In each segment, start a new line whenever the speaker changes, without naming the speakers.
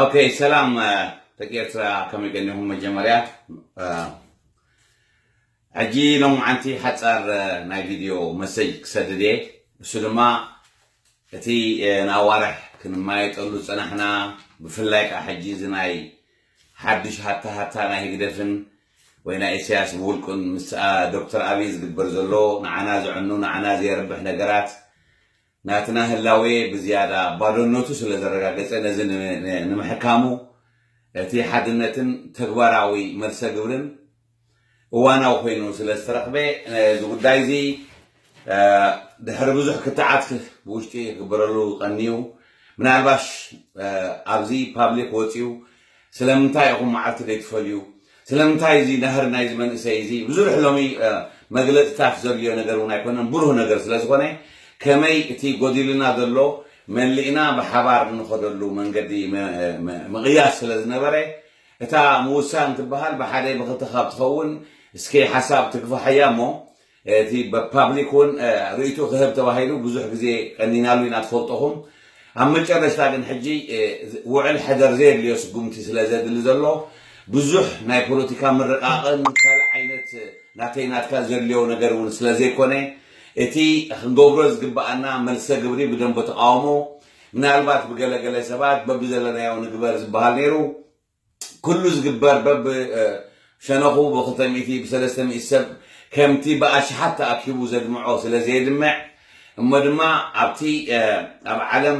ኦኬ ሰላም ደቂ ኤርትራ ከመይ ገኒኹም መጀመርያ ሕጂ ሎም ዓንቲ ሓፃር ናይ ቪድዮ መሰጅ ክሰድድ እየ እሱ ድማ እቲ ንኣዋርሕ ክንማየጠሉ ዝፀናሕና ብፍላይ ከዓ ሕጂ እዚ ናይ ሓዱሽ ሃታ ሃታ ናይ ህግደፍን ወይ ናይ ኢሳያስ ብውልቁን ምስ ዶክተር ኣብይ ዝግበር ዘሎ ንዓና ዘዕኑ ንዓና ዘየርብሕ ነገራት ናትና ህላዌ ብዝያዳ ባዶነቱ ስለ ዘረጋገጸ፣ ነዚ ንምሕካሙ እቲ ሓድነትን ተግባራዊ መልሰ ግብርን እዋናዊ ኮይኑ ስለ ዝተረኽበ፣ እዚ ጉዳይ'ዚ ድሕሪ ብዙሕ ክትዓት ብውሽጢ ክግበረሉ ቀንዩ፣ ምናልባሽ ኣብዚ ፓብሊክ ወጺኡ ስለምንታይ ኢኹም መዓልቲ ዘይትፈልዩ? ስለምንታይ እዚ ናህሪ ናይዚ መንእሰይ እዚ ብዙሕ ሎሚ መግለጺታት ዘድልዮ ነገር እውን ኣይኮነን ብሩህ ነገር ስለ ዝኾነ ከመይ እቲ ጎዲሉና ዘሎ መሊእና ብሓባር እንኸደሉ መንገዲ ምቕያስ ስለ ዝነበረ እታ ምውሳን ትበሃል ብሓደ ብኽልተ ካብ ትኸውን እስኪ ሓሳብ ትግፋሓያ እሞ እቲ ፓብሊክ እውን ርእይትኡ ክህብ ተባሂሉ ብዙሕ ግዜ ቀኒናሉ ኢና ትፈልጡኹም። ኣብ መጨረሽታ ግን ሕጂ ውዕል ሕደር ዘየድልዮ ስጉምቲ ስለ ዘድሊ ዘሎ ብዙሕ ናይ ፖለቲካ ምርቓቕን ካልእ ዓይነት ናተይ ናትካ ዘድልዮ ነገር እውን ስለ ዘይኮነ እቲ ክንገብሮ ዝግበኣና መልሰ ግብሪ ብደንቦ ተቓውሞ ምናልባት ብገለ ገለ ሰባት በብዘለናዮ ንግበር ዝበሃል ነይሩ ኩሉ ዝግበር በብ ሸነኹ ብክልተ ሚእቲ ብሰለስተ ሚእቲ ሰብ ከምቲ ብኣሽሓት ተኣኪቡ ዘድምዖ ስለ ዘየድምዕ እሞ ድማ ኣብቲ ኣብ ዓለም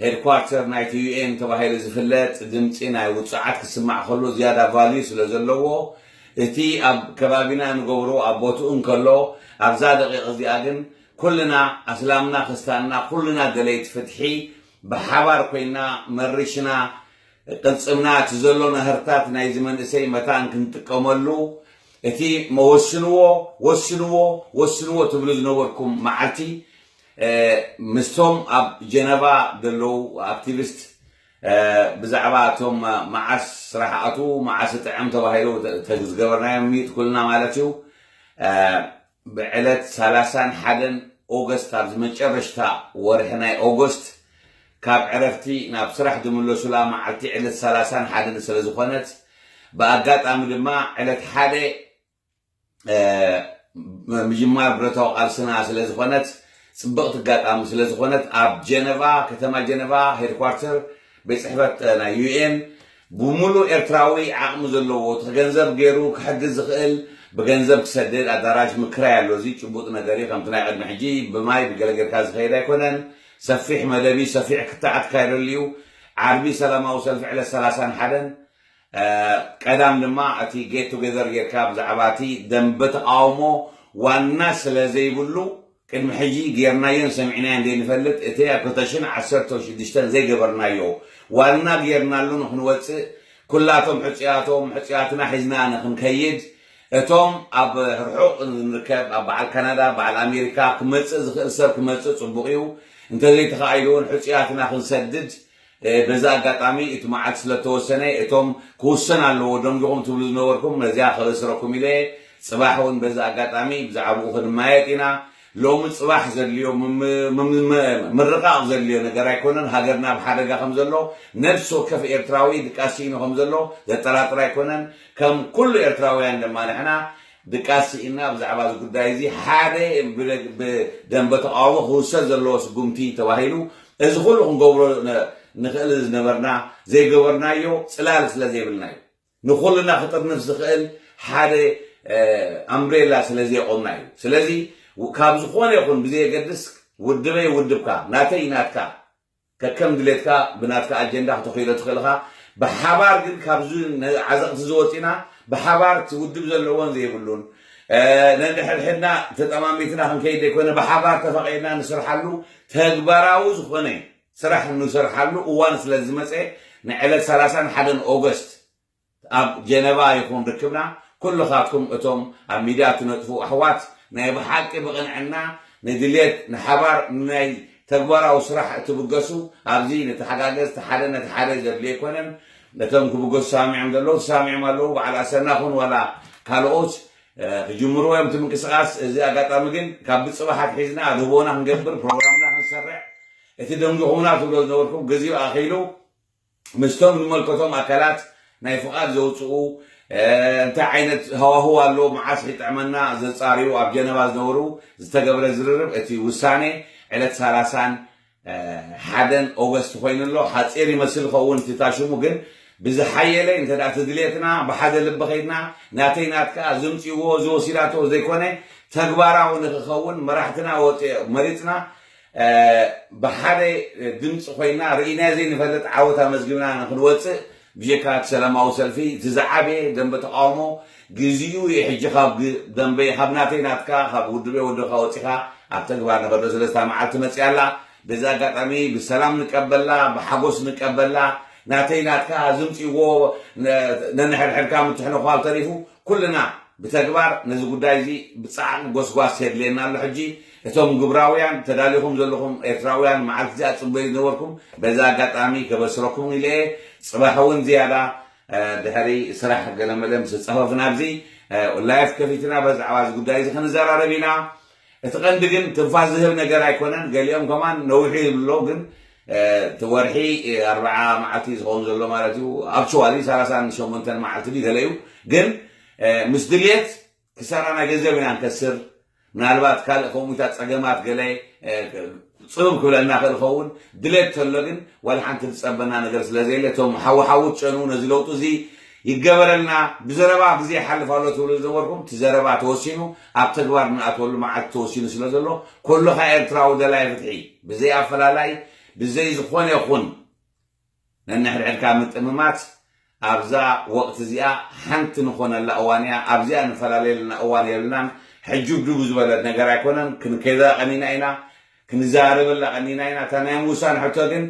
ሄድኳርተር ናይቲ ዩኤን ተባሂሉ ዝፍለጥ ድምጺ ናይ ውጹዓት ክስማዕ ከሎ ዝያዳ ቫልዩ ስለ ዘለዎ እቲ ኣብ ከባቢና ንገብሮ ኣብ ቦትኡ እንከሎ ኣብዛ ደቂቕ እዚኣ ግን ኩልና ኣስላምና ክስታንና ኩልና ደለይቲ ፍትሒ ብሓባር ኮይና መሪሽና ቅልጽምና እቲ ዘሎ ናህርታት ናይዚ መንእሰይ መታን ክንጥቀመሉ እቲ መወስንዎ ወስንዎ ወስንዎ ትብሉ ዝነበርኩም መዓልቲ ምስቶም ኣብ ጀነቫ ዘለዉ ኣክቲቪስት ብዛዕባ እቶም መዓስ ስራሕ ኣትዉ መዓስ እጥዕም ተባሂሉ ተዝገበርናዮም ሚዩት ኩልና ማለት እዩ ብዕለት ሰላሳን ሓደን ኦገስት ኣብ ዝመጨረሽታ ወርሒ ናይ ኦጎስት ካብ ዕረፍቲ ናብ ስራሕ ዝምለሱላ መዓልቲ ዕለት ሰላሳን ሓደን ስለ ዝኾነት ብኣጋጣሚ ድማ ዕለት ሓደ ምጅማር ብረታዊ ቃልስና ስለ ዝኾነት ጽብቕቲ ኣጋጣሚ ስለ ዝኾነት ኣብ ጀነቫ ከተማ ጀነቫ ሄድኳርተር ቤት ጽሕፈት ናይ ዩኤን ብሙሉእ ኤርትራዊ ዓቕሚ ዘለዎ ትኽ ገንዘብ ገይሩ ክሕግዝ ዝኽእል ብገንዘብ ክሰድድ ኣዳራሽ ምክራይ ኣሎ እዚ ጭቡጥ ነገር እዩ ከምቲ ናይ ቕድሚ ሕጂ ብማይ ብገለ ገርካ ዝኸይድ ኣይኮነን ሰፊሕ መደብ እዩ ሰፊሕ ክትዕ ኣትካይደሉ እዩ ዓርቢ ሰላማዊ ሰልፊ ዕለት ሰላሳን ሓደን ቀዳም ድማ እቲ ጌት ቱገዘር ጌርካ ብዛዕባ እቲ ደንበ ተቓውሞ ዋና ስለ ዘይብሉ ቅድሚ ሕጂ ጌርናዮን ሰሚዕናዮን ዘይንፈልጥ እቲ ኣብ ክልተ ሽሕን ዓሰርተው ሽዱሽተን ዘይገበርናዮ ዋና ጌርናሉ ንኽንወጽእ ኩላቶም ሕጹያቶም ሕጹያትና ሒዝና ንኽንከይድ እቶም ኣብ ርሑቕ ንርከብ ኣብ በዓል ካናዳ በዓል ኣሜሪካ ክመጽእ ዝኽእል ሰብ ክመጽእ ጽቡቕ እዩ እንተዘይተኻኢሉ እውን ሕጹያትና ክንሰድድ በዚ ኣጋጣሚ እቲ መዓልቲ ስለ እተወሰነ እቶም ክውሰን ኣለዎ ደንጒኹም ትብሉ ዝነበርኩም ነዚኣ ከበስረኩም ኢለ እየ። ጽባሕ እውን በዚ ኣጋጣሚ ብዛዕባኡ ክንመያየጥ ኢና። ሎሚ ጽባሕ ዘድልዮ ምርቓቕ ዘድልዮ ነገር ኣይኮነን። ሃገርና ኣብ ሓደጋ ከም ዘሎ ነብሲ ወከፍ ኤርትራዊ ድቃስ ስኢኑ ከም ዘሎ ዘጠራጥር ኣይኮነን። ከም ኩሉ ኤርትራውያን ድማ ንሕና ድቃስ ስኢንና ብዛዕባ እዚ ጉዳይ እዚ ሓደ ብደምበ ተቓውሞ ክውሰድ ዘለዎ ስጉምቲ ተባሂሉ እዚ ኩሉ ክንገብሮ ንኽእል ዝነበርና ዘይገበርናዮ ጽላል ስለ ዘይብልና እዩ። ንኹልና ክጥርንፍ ዝኽእል ሓደ ኣምብሬላ ስለ ዘየቖምና እዩ። ስለዚ ካብ ዝኾነ ይኹን ብዘየገድስ ውድበይ ውድብካ ናተይ ናትካ፣ ከከም ድሌትካ ብናትካ ኣጀንዳ ክተኽይሎ ትኽእል እኻ ብሓባር ግን ካብዚ ዓዘቕቲ እዚ ወጺና ብሓባር እቲ ውድብ ዘለዎን ዘይብሉን ነንሕድሕድና ተጠማሚትና ክንከይድ ዘይኮነ ብሓባር ተፋቒርና ንስርሓሉ ተግባራዊ ዝኾነ ስራሕ ንሰርሓሉ እዋን ስለዝመጸ ንዕለት ሰላሳን ሓደን ኦገስት ኣብ ጀነቫ ይኹን ርክብና ኩልኻትኩም እቶም ኣብ ሚድያ ትነጥፉ ኣሕዋት ናይ ብሓቂ ብቕንዕና ንድሌት ንሓባር ንናይ ተግባራዊ ስራሕ እትብገሱ ኣብዚ ንተሓጋገዝ ተሓደ ነቲ ሓደ ዘድሊ ኣይኮነን ነቶም ክብገሱ ተሳሚዖም ዘለዉ ተሳሚዖም ኣለዉ በዓል ኣሰና ኹን ዋላ ካልኦት ክጅምርዎ እዮም እቲ ምንቅስቃስ እዚ ኣጋጣሚ ግን ካብ ብፅባሕ ኣትሒዝና ኣድህቦና ክንገብር ፕሮግራምና ክንሰርዕ እቲ ደንጉኹምና ትብሎ ዝነበርኩም ግዚኡ ኣኺሉ ምስቶም ዝመልከቶም ኣካላት ናይ ፍቓድ ዘውጽኡ፣ እንታይ ዓይነት ሃዋህው ኣሎ፣ መዓስ ኺጥዕመና ዘጻርዩ ኣብ ጀነቫ ዝነበሩ ዝተገብረ ዝርርብ፣ እቲ ውሳኔ ዕለት ሰላሳን ሓደን ኦገስት ኮይኑ ኣሎ። ሓጺር ይመስል ይኸውን እቲ ታሽሙ ግን ብዝሓየለ እንተ ትድልየትና ብሓደ ልቢ ከይድና ናተይ ናትካ ዝምጽዎ ዝወሲዳቶ ዘይኮነ ተግባራዊ ንክኸውን መራሕትና መሪጽና ብሓደ ድምፂ ኮይና ርኢናዮ ዘይንፈልጥ ዓወት ኣመዝጊብና ንክንወፅእ ብጀካ እቲ ሰላማዊ ሰልፊ እቲ ዝዓበየ ደንበ ተቃውሞ ግዚኡ እዩ ሕጂ ካብ ደንበይ ካብ ናተይ ናትካ ካብ ውድበይ ወድብካ ወፂካ ኣብ ተግባር ንከዶ ስለዚ እታ መዓልቲ መፂኣ ኣላ በዚ ኣጋጣሚ ብሰላም ንቀበላ ብሓጎስ ንቀበላ ናተይ ናትካ ዝምፅዎ ነንሕድሕድካ ምትሕንኳል ተሪፉ ኩልና ብተግባር ነዚ ጉዳይ እዚ ብፃዕቒ ጎስጓስ የድልየና ኣሎ ሕጂ እቶም ግብራውያን ተዳሊኹም ዘለኹም ኤርትራውያን መዓልቲ እዚኣ ትጽበዩ ዝነበርኩም በዚ ኣጋጣሚ ከበስረኩም ኢለ እየ ጽባሕ እውን ዝያዳ ድሕሪ ስራሕ ገለመለ ምስ ጸፈፍና ኣብዚ ላይፍ ከፊትና በዛዕባ እዚ ጉዳይ እዚ ክንዘራረብ ኢና እቲ ቀንዲ ግን ትንፋስ ዝህብ ነገር ኣይኮነን ገሊኦም ከማን ነዊሑ ይብሉ ኣለዉ ግን እቲ ወርሒ ኣርብዓ መዓልቲ ዝኸውን ዘሎ ማለት እዩ ኣብቸዋሊ ሰላሳን ሸሞንተን መዓልቲ ድዩ ገለ እዩ ግን ምስ ድልየት ክሳራ ናይ ገንዘብ ኢና ንከስር ምናልባት ካልእ ከምኡታት ጸገማት ገለ ጽብብ ክብለና ይኽእል ይኸውን ድሌት ተሎ ግን ዋላ ሓንቲ ዝጸበና ነገር ስለ ዘየለ እቶም ሓዊ ሓዊ ትጨኑ ነዚ ለውጢ እዚ ይገበረልና ብዘረባ ግዜ ይሓልፍ ኣሎ ትብሉ ዝነበርኩም እቲ ዘረባ ተወሲኑ ኣብ ተግባር ንኣትወሉ መዓልቲ ተወሲኑ ስለ ዘሎ ኩልኻ ኤርትራዊ ደላይ ፍትሒ ብዘይ ኣፈላላይ ብዘይ ዝኾነ ይኹን ነንሕድሕድካ ምጥምማት ኣብዛ ወቅቲ እዚኣ ሓንቲ ንኾነላ እዋን እያ ኣብዚኣ ንፈላለየልና እዋን የብልናን ሕጁብዱቡ ዝበለት ነገር ኣይኮነን ክንከይዳ ቀኒና ኢና ክንዛረበላ ቀኒና ኢና እታ ናይ ምውሳን ሕቶ ግን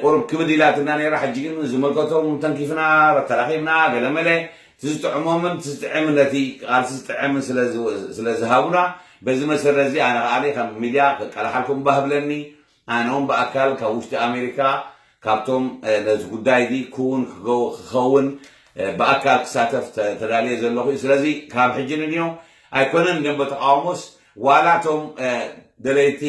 ቁሩብ ክብድ ኢላትና ነይራ ሕጂ ግን ዝምልከቶም ተንኪፍና ተራኺብና ገለመለ እቲ ዝጥዕሞምን እቲ ዝጥዕምን ነቲ ቃልሲ ዝጥዕምን ስለ ዝሃቡና በዚ መሰረት እዚ ኣነ ከኣ ከም ሚድያ ክቀላሓልኩም ባህ ብለኒ ኣነውን ብኣካል ካብ ውሽጢ ኣሜሪካ ካብቶም ነዚ ጉዳይ እዚ ክውን ክኸውን ብኣካል ክሳተፍ ተዳልየ ዘለኹ እዩ። ስለዚ ካብ ሕጂ ንንዮ ኣይኮነን ደንበ ተቓውሞስ ዋላ እቶም ደለይቲ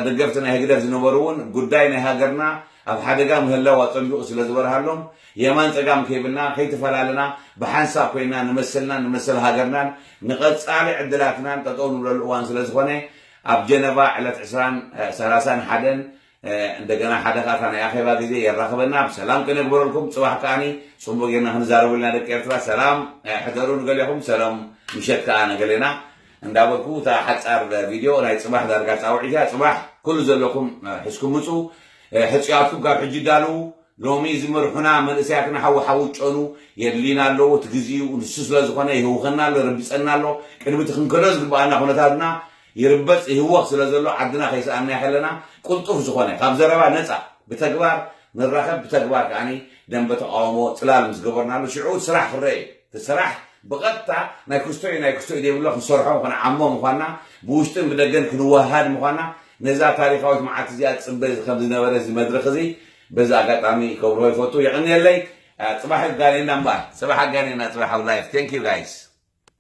ደገፍቲ ናይ ህግደፍ ዝነበሩ እውን ጉዳይ ናይ ሃገርና ኣብ ሓደጋ ምህላው ኣጸቢቑ ስለ ዝበርሃሎም የማን ጸጋም ከይብልና ከይተፈላለና ብሓንሳብ ኮይና ንመሰልናን ንመሰል ሃገርናን ንቐጻሊ ዕድላትናን ጠጠው ንብለሉ እዋን ስለ ዝኾነ ኣብ ጀነቫ ዕለት ዕስራን ሰላሳን ሓደን እንደገና ሓደ ከኣ እታ ናይ ኣኼባ ግዜ የራኽበና ብሰላም ከነግበረልኩም ጽባሕ ከኣ ጽቡቅ ጌርና ክንዛረበሉ ኢና ደቂ ኤርትራ ሰላም ሕደሩ ንገሌኹም ሰላም ምሸት ከኣ ንገሌና እንዳበልኩ እታ ሓጻር ቪድዮ ናይ ጽባሕ ዳርጋ ጻውዒት እያ ጽባሕ ኩሉ ዘለኩም ሕዝኩም ምጹ ሕጹያትኩም ካብ ሕጂ ዳልዉ ሎሚ ዝምርሑና መንእሰያትና ሓዊ ሓዊ ይጨኑ የድልዩና ኣለዉ። እቲ ግዜኡ ንሱ ስለ ዝኾነ ይህውኸና ኣሎ፣ ይረብጸና ኣሎ። ቅድሚ እቲ ክንከዶ ዝግብኣና ኩነታትና ይርበጽ ይህወኽ ስለ ዘሎ ዓድና ከይሰኣንናያ ከለና ቅልጡፍ ዝኾነ ካብ ዘረባ ነጻ ብተግባር ንራኸብ ብተግባር ከኣ ደምበ ተቓውሞ ጽላል ምስ ገበርናሉ ሽዑ እቲ ስራሕ ክረኣ እዩ። እቲ ስራሕ ብቐጥታ ናይ ክስቶ እዩ ናይ ክስቶ እዩ ዘይብሎ ክንሰርሖ ክንዓሞ ምዃንና ብውሽጥን ብደገን ክንወሃሃድ ምዃንና ነዛ ታሪኻዊት መዓልቲ እዚኣ ዝጽበ ከም ዝነበረ እዚ መድረኽ እዚ በዚ ኣጋጣሚ ክገብሮ ይፈቱ የቀንየለይ። ፅባሕ የጋኔና እምበር። ፅባሕ ኣጋኔና ፅባሕ ኣብ ላይፍ thank you guys።